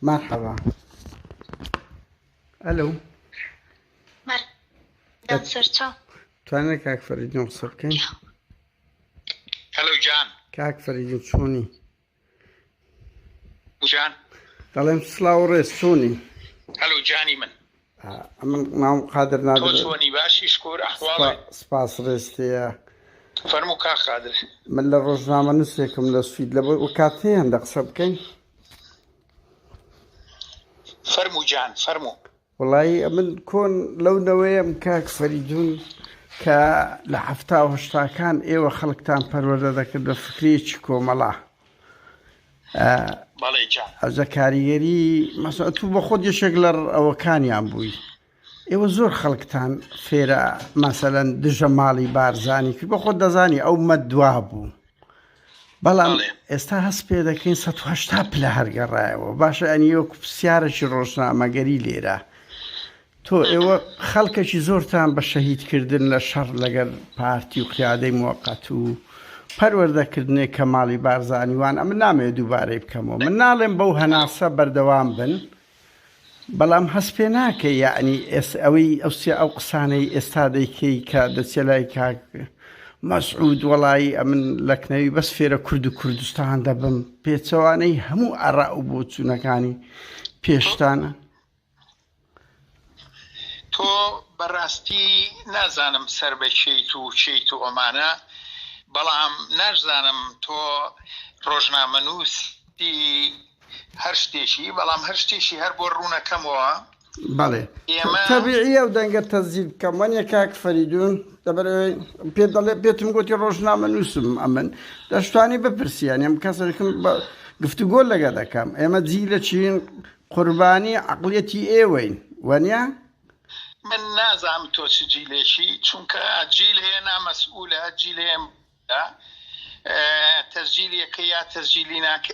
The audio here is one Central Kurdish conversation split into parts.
مرحبا الو توانێت کاک فەریدۆم قسە بکەین هەلو جان کاک فەریدۆ چۆنی جان دەڵێم سلااو و ڕێز چۆنی هەلو جانی من ئەمن مام قادر نادۆنی باشی شکور سپاس ڕێستەیە فەرمو کا قادر من لە ڕۆژنامە نووسێکم لە سوید لە بۆی وکات هەیە هەندە قسە بکەین فەرمو جان فەرمو وەڵایی ئەمن کۆن لەو نەوەیەم کاک فەریدون کە لە حەفتا و هەشتاکان ئێوە خەڵکتان پەروەدە دەکرد بە فکرێکی کۆمەڵە ئەزە کاریگەری مەسە تو بە خۆت یەشێک لە ئەوەکانیان بووی ئێوە زۆر خەڵکتان فێرە مەسەەن دژە ماڵی بارزانانی کرد بە خۆت دەزانی ئەو مەدوا بوو بەڵام ئێستا هەست پێ دەکەین 1970 پلە هەرگەڕایەوە باشە ئەنی وەکو پرسیارەی ڕۆژنامەگەری لێرە تۆ ئێوە خەڵکەکی زۆرتان بە شەهیدکردن لە شەڕ لەگەر پارتی و قیادەی موقت و پەروەردەکردنێک کە ماڵی بارزانیوان ئەمە نامێ دووبارەی بکەمەوە من ناڵێم بەو هەناسە بەردەوام بن بەڵام هەست پێ ناکەی یەعنی ئێستا ئەوەی ئەو سێ ئەو قسانەی ئێستا دەیکەی کە دەچێ لای کاک مەسعود وەڵایی ئەمن لەکنەوی بەس فێرە کورد و کوردستان دەبم پێچەوانەی هەموو ئەڕا و بۆچوونەکانی پێشتانە تۆ بەڕاستی نازانم سەر بە چیت و چیت و ئەمانە بەڵام ناشزانم تۆ ڕۆژنامەنووسی هەر شتێکی بەڵام هەر شتێکی هەر بۆ ڕوونەکەمەوە بەڵێ تەبیعیە و دەنگە تەزیل بکەم وەنیە کاک فەریدون دەبەر پێ دەڵێ پێتم گوتی ڕۆژنامە نووسم ئەمن دەشتانی بپرسیان ئەم کەسەکم بە گفتوگۆ لەگە دەکەم ئێمە جی لە چین قوربانی عقلەتی ئێوەین وەنیە من نازام تۆ چ جیلێکی چونکە جیل هەیە نامەسئولە جیلێم تەزجیلەکە یا تەزجیلی ناکە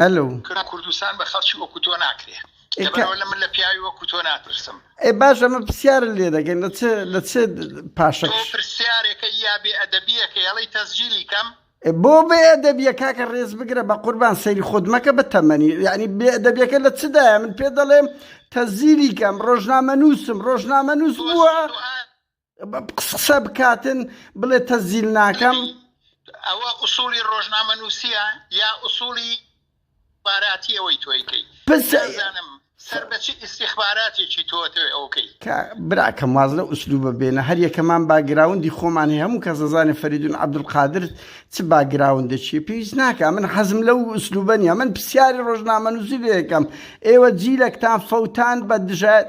ئەلو کرا کوردستان بە خەڵکی وەکو تۆ ناکرێ لەبەرەوە لە من لە پیاوی وەکو تۆ ناترسم ئێ باش ئەمە پرسیار لێ دەگەن لە چ لە چ پاشە تۆ پرسیارێکە یا بێ ئەدەبیەکە یاڵی تەسجیلی کەم بۆ بێ ئەدەبیە کاکە ڕێز بگرە بە قوربان سەیری خۆت مەکە بە تەمەنی یعنی بێ ئەدەبیەکە لە چدایە من پێ دەڵێم تەزیری کەم ڕۆژنامە نووسم ڕۆژنامە نووس بووە قسە بکاتن بڵێ تەزیل ناکەم ئەوە ئوسولی ڕۆژنامە نووسە یا ئوسولی باراتی ئەوەی تۆیکەی پسزانم سەر بەچی ئیسیخباراتێکی تۆتەوەی ئەوکەی براکەم واز لە ئوسلوبە بێنە هەر یەکەمان باگراوندی خۆمان هەیە هەموو کەس دەزانێ فەریدون عبدقادر چ باگراوندەچی پێویست ناکە من حەزم لەو ئوسلوبە نیە من پرسیاری ڕۆژنامە نووسی لەکەم ئێوە جیلێکتان فەوتان بە دژایەت